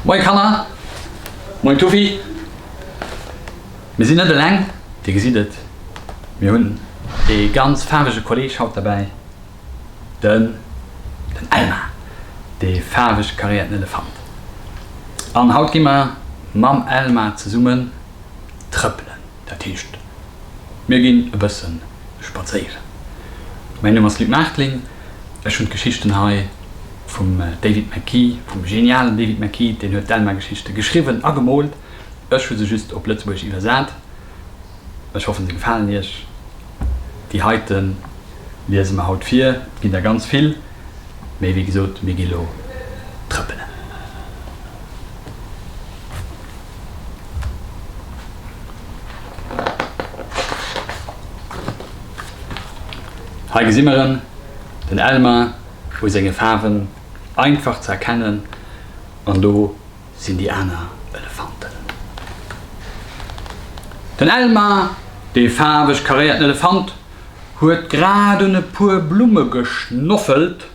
Moin Kanner, moin Tufi. Mir sinn net eleng, Dir gesitt et, mir hunn ee ganz faarwege Kolleg haut derbäi, den Elmar, dee faarweg karéierten Elefant. An haut gi mer mam Elmar zesummen trëppelen. Dat heescht, mir ginn e bësse spadséieren. Mäin Numm ass Luc Maartling. Ech hunn d'Geschichten hei vum David McKee, vum genialen David McKee. Deen huet d'Elma-Geschichte geschriwwen a gemoolt. Ech hu se just op Lëtzebuergesch iwwersat. Ech hoffen, se gefalen Iech. Déi heite liese mer haut vir. Et ginn der ganz vill. Mee wéi gesot, mir gi lo trëppelen. Hei gesi mer en, den Elmar u senge Faarwen, einfach ze erkennen. An do sinn déi aner Elefanten. Den Elmar, dee faarweg karéierten Elefant. huet grad un e puer Blumme geschnoffelt,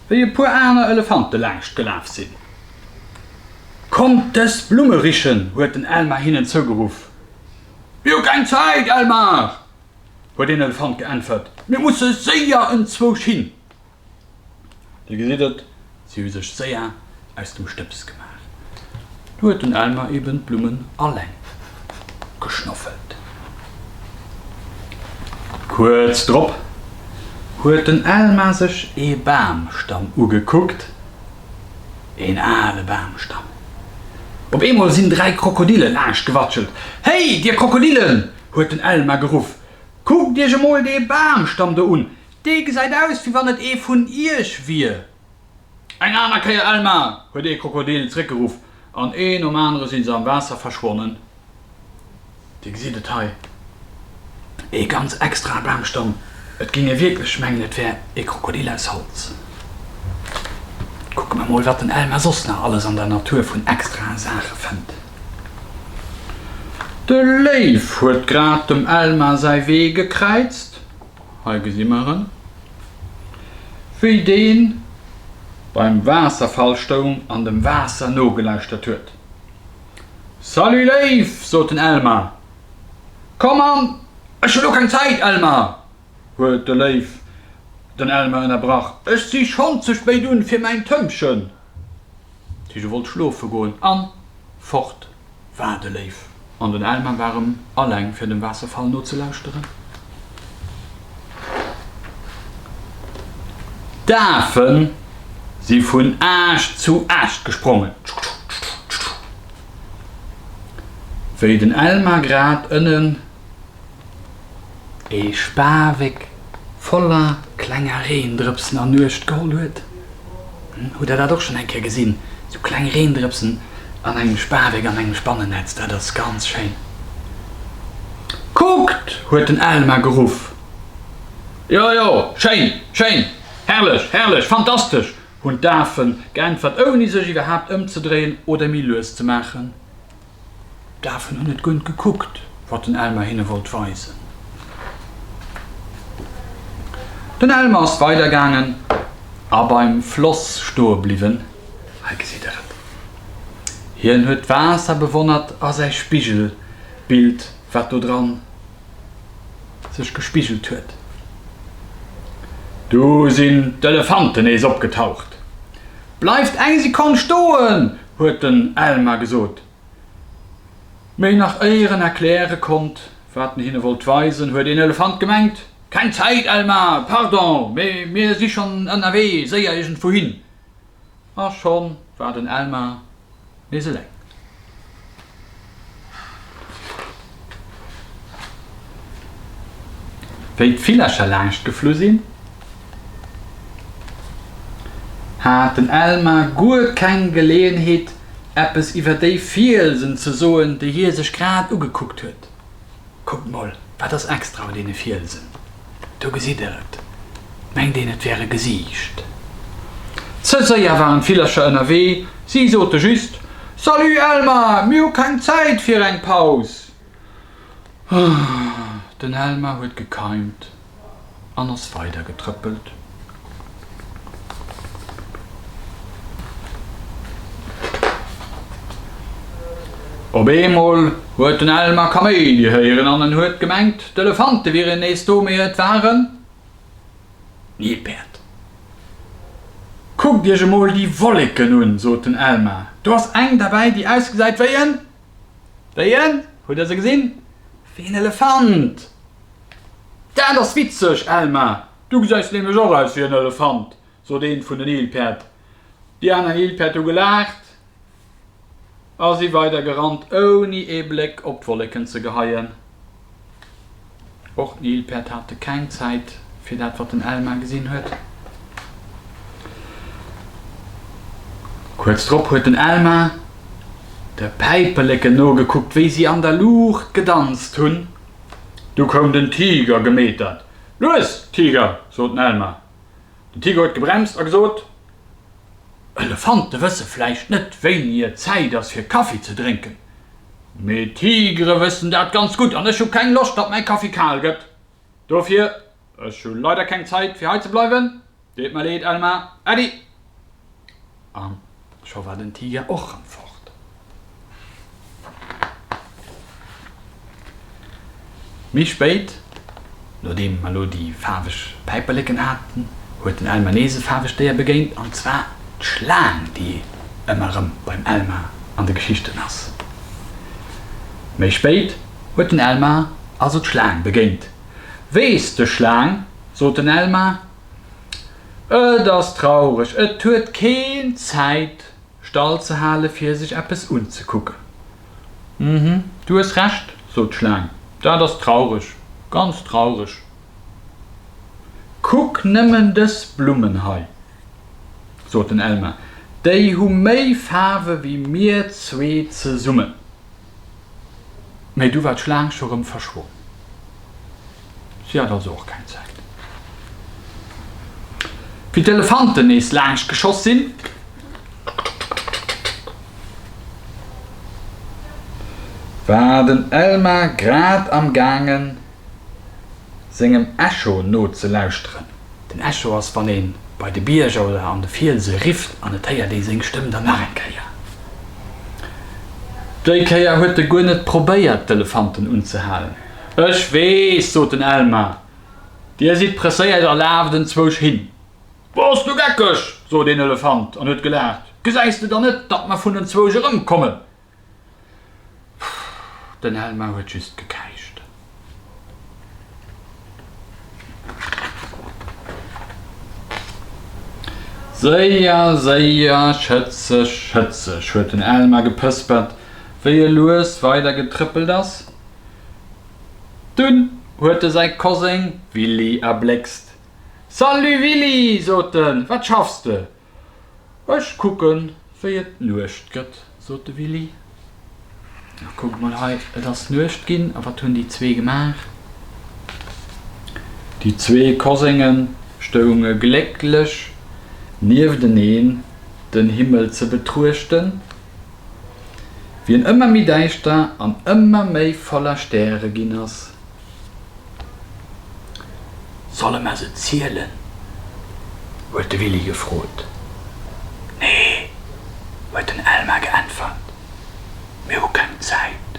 wéi e puer aner Elefante laangscht gelaf sinn. Kommt dës Blumme richen! huet den Elmar hinnen zougeruff. Mir hu keng Zäit, Elmar! huet een Elefant geäntwert. Mir musse séier enzwousch hin. Dir gesitt et, si hu sech séier aus dem Stëbs gemaach. Du huet den Elmer eben d'Blummen alleng geschnoffelt. Kuerz drop huet den Elmer sech ee Bamstamm ugekuckt, een ale Bamstamm. Op eemol sinn dräi Krokodille laascht gewatschelt. Héi, dir Krokodillen! huet den Elmer geruff, kuckt iech emol dee Bamstamm do un, Dee gesäit aus, wéi wann et ee vun Iech wier. Eng aner Kéier, Elma! huet ee Krokodil zréckgeruff, an ee nom anere si se am Waasser verschwonnen. Dir gesitt et hei, ee ganz extrae Bamstamm. Et géing ee wierklech mengen, et wär ee Krokodil aus Holz. Kucke mer mol, wat den Elma soss nach alles an der Natur vun extrae Saache fënnt. De Léiw huet grad dem Elma säi Wee gekräizt. Hei gesi mer en, wéi dee beim Waasserfall stoung an dem Waasser nogelauschtert huet. Salut Léif! sot den Elmar. Komm an! Ech hu lo keng Zäit, Elmar! huet de Léif den Elmar ënnerbrach. Ech si schonn ze spéit un fir mäin Tëmpchen. D'Hege wollt schlofe goen an fort war de Léiw an den Elmar waren alleng fir dem Waasserfall nozelauschteren. D'Afen si vun Aascht zu Aascht gesprongen. Wéi den Elmar grad ënnen E Spaweck voller klenger Reendrëpsen an Nuecht geholl huet. Hutt der dat och schonn eng Kéier gesinn? Sou kleng Reendrëpsen an engem Spaweck an engem Spannennetz, dat ass ganz schéin. Kuckt! huet den Elmar geruff. Jo, jo, schéin, schéin, herrlech, herrlech, fantastesch! hunn d'Afen geäntwert, ouni sech iwwerhaapt ëmzedréien oder méi lues ze maachen. D'Afen hunn net guer gekuckt, wat den Elmer hinne wollt weisen. Den Elmer ass weidergaangen a beim Floss stoe bliwwen. Hei geséit der et. Hien huet d'Waasser bewonnert a säi Spigelbild, wat do dran sech gespigelt huet. Du sinn d'Elefanten nees opgetaucht. Bleift eng Sekonn stoen! huet den Elmar gesot. Mee nach éier en erkläre konnt, wat en hinne wollt weisen, huet een Elefant gemengt, Keng Zäit, Elmar! Pardon, mee mir si schonn ënnerwee, séier iergendwou hin! A schonn war den Elmar nees eleng. Wéi d'Villercher laanscht geflu sinn, hat den Elmar guer keng Geleeënheet, eppes iwwer déi Fielsen ze soen, déi hie sech grad ugekuckt huet. Kuckt mol, wat ass extra un deene Fielsen? Do gesitt der et. Mengt een, et wär e Gesiicht. Ze séier waren d'Villercher ënnerwee, si sote just, Salut Elmar, mir hu keng Zäit fir eng Paus. Den Elmar huet gekeimt. an ass weider getrëppelt. Op eemol huet den Elmer Kaméidi héieren an en huet gemengt, d'Elefante wieren nees do, mee et war en Nilpäerd. Kuckt Iech emol déi Wolleken un, sot den Elmer, do ass eng derbäi, déi ausgesäit wéi en Wéien? Hutt Dir se gesinn? Wéi en Elefant! Dat ass witzeg, Elma! Du gesäis nämlech och aus wéi en Elefant! sot eent vun den Nilpäerd. Déi aner Nilpäerd hu gelaacht a si weidergerannt, ouni ee Bléck op d'Wolleken ze geheien. Och den Ilpert hate keng Zäit fir dat wat den Elmar gesinn huet. Kuerz drop huet den Elmar de Päiperleken nogekuckt wéi si an der Luucht gedanzt hunn. Du koum den Tiger gemetert. Lues Tiger! sot den Elmar. Den Tigo huet gebremst a gesot, Elefante wësse vläicht net, wéini et Zäit ass fir Kaffi ze drénken, mee Tigere wëssen dat ganz gutt an ech hu keng Loscht, datt mäi Kaffi kal gëtt. Dofir, ech hu leider keng Zäit, fir hei ze bleiwen. Deet mer leed, Elmar. Äddi! An scho war den Tiger och rëm fort. Méi spéit, nodeem mer elo déi faarweg Päiperleken haten, huet den Elmer nees e faarwegt Déier begéint, an zwar d'Schlaang, déi ëmmer rëm beim Elmer an de Geschichten ass. Méi spéit huet den Elmer also d'Schlaang begéint. Weess de Schlaang, sot den Elmer. Et ass traureg, et huet keen Zäit stall ze hale fir sech eppes unzekucken. Uhmm, du hues Recht, sot d'Schlaang, dat ass traureg, ganz traureg. Kuck nëmmen dës Blummen hei, sot den Elmar, déi hu méi Faarwe wéi mir zwee zesummen. Mä du war d'Schlaang scho rëm verschwonnen. Si hat also och keng Zäit. Wéi d'Elefanten nees laangscht geschoss sinn, war den Elmar grad am gaangen sengem Echo no ze lauschteren. Den Echo ass wann een bei de Bierger oder an de Fielse rifft an et héiert ee seng Stëmm dann nach eng Kéier. Déi Kéier huet e guer net probéiert d'Elefanten unzehalen. Ech weess, sot den Elmar, dir sidd presséiert a laaft enzwousch hin. Bass du geckeg, sot een Elefant an huet gelaacht, gesäis de dann net, datt mer vun enzwousch erëmkommen? Den Elmar huet just gekäischt. Séier, séier, schëtzeg, schëtzeg, huet den Elmar gepëspert, wéi e lues weider getrëppelt ass. Dunn huet e säi Koseng Willy erbléckst. Salut Willy! sot en, wat schaffs de? Ech kucken, wéi et Nuecht gëtt, sot de Willy. A kuckt mol hei, et ass Nuecht ginn. A wat hunn déi zwee gemaach? Déi zwee Kosenge stounge glécklech niefteneen, den Himmel ze betruechten, wien ëmmer méi däischter an ëmmer méi voller Stäre ginn ass. Solle mer se zielen? huet de Willy gefrot. Nee, huet den Elmar geäntwert, mir hu keng Zäit.